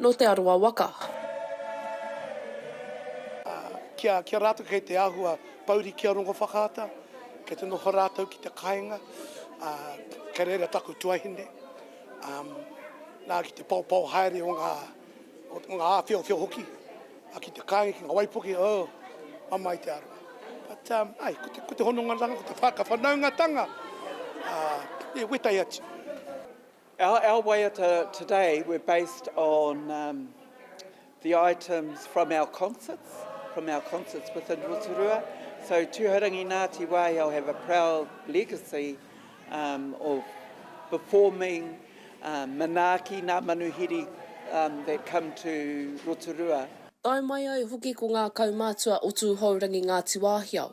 nō Te Arawa waka. Ā, ki a, ki a rātou kei te āhua pouri ki a Rongowhakaata, kei te noho rātou ki te kāinga, ā, kei reira taku tuahine, ā, nā, ki te paopao haere o ngā, o ngā āwhiowhio hoki, ā, ki te kāinga, ki ngā waipuke, oh, mamae te aroha. But, ā, āe, ko te, ko te hononga ranga, ko te whakawhanaungatanga, ā, e wetai atu. Our, our waiata today were based on um, the items from our concerts, from our concerts within Rotorua. So Tūhourangi Ngāti Wāhiao have a proud legacy um, of performing um, manaaki nā manuhiri um, that come to Rotorua. Tae mai ai hoki ko ngā kaumātua o Tūhourangi Ngāti Wāhiao.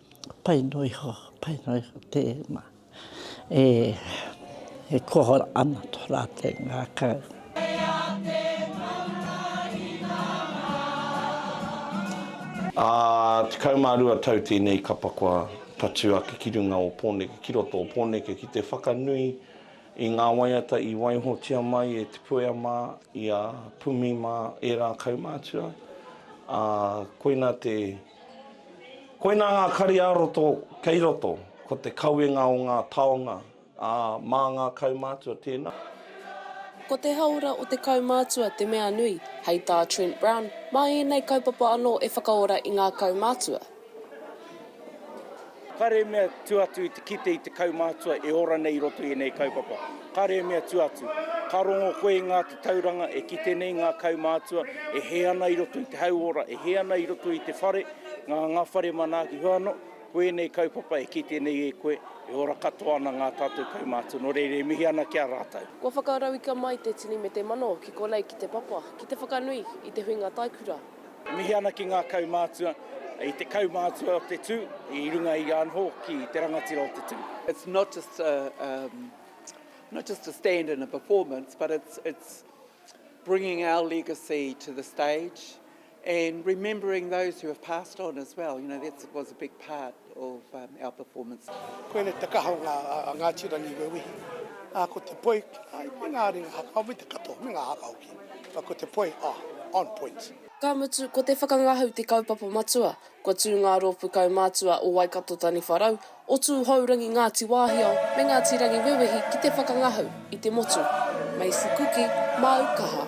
Pai noa iho, pai noa iho tēnā. E, e koa ana tō rātou ngākau. Ā, tekau mā rua tau tēnei kapa kua tatū ake ki runga o Pōneke, ki roto o Pōneke, ki te whakanui i ngā waiata i waihotia mai e Te Puea mā, i a Pumi mā, ērā kaumātua. Ā, koina te. Koinā ngā kari-ā-roto kei roto, ko te kawenga o ngā taonga, ā, mā ngā kaumātua tēnā. Ko te hāora o te kaumātua te mea nui, hei tā Trent Brown, mā ēnei kaupapa anō e whakaora i ngā kaumātua. Kāre e mea tua atu i te kite i te kaumātua e ora nei i roto i ēnei kaupapa. Kāre e mea tua atu. Ka rongo koe i ngā tatauranga e kite nei ngā kaumātua e hē ana i roto i te hauora, e hē ana i roto i te whare, ngā ngā whare manaaki hou anō, ko ēnei kaupapa e kite nei e koe, e ora katoa ana ngā tātou kaumātua. Nō reira, e mihi ana ki a rātou. Kua whakarauika mai te tini me te mano ki konei ki te papa, ki te whakanui i te huinga taikura. Mihi ana ki ngā kaumātua i te kaumātua o te tū i runga i anho ki te rangatira o te tū. It's not just a um not just a stand and a performance but it's it's bringing our legacy to the stage and remembering those who have passed on as well, you know, that was a big part. of our performance. Koinei te kaha o nga Ngati Rangi Wewehi, a ko te poi, ai me nga ringa hakao me te katoa me nga haka hoki, but ko te poi, ah, on point. Ka mutu, ko te whakangahau te kaupapa matua, kua tū ngā rōpū kaumātua o Waikato Taniwharau, o Tūhourangi Ngāti Wāhiao me Ngāti Rangiwewehi ki te whakangahau i te motu. Maisie Kuki, Māu Kaha.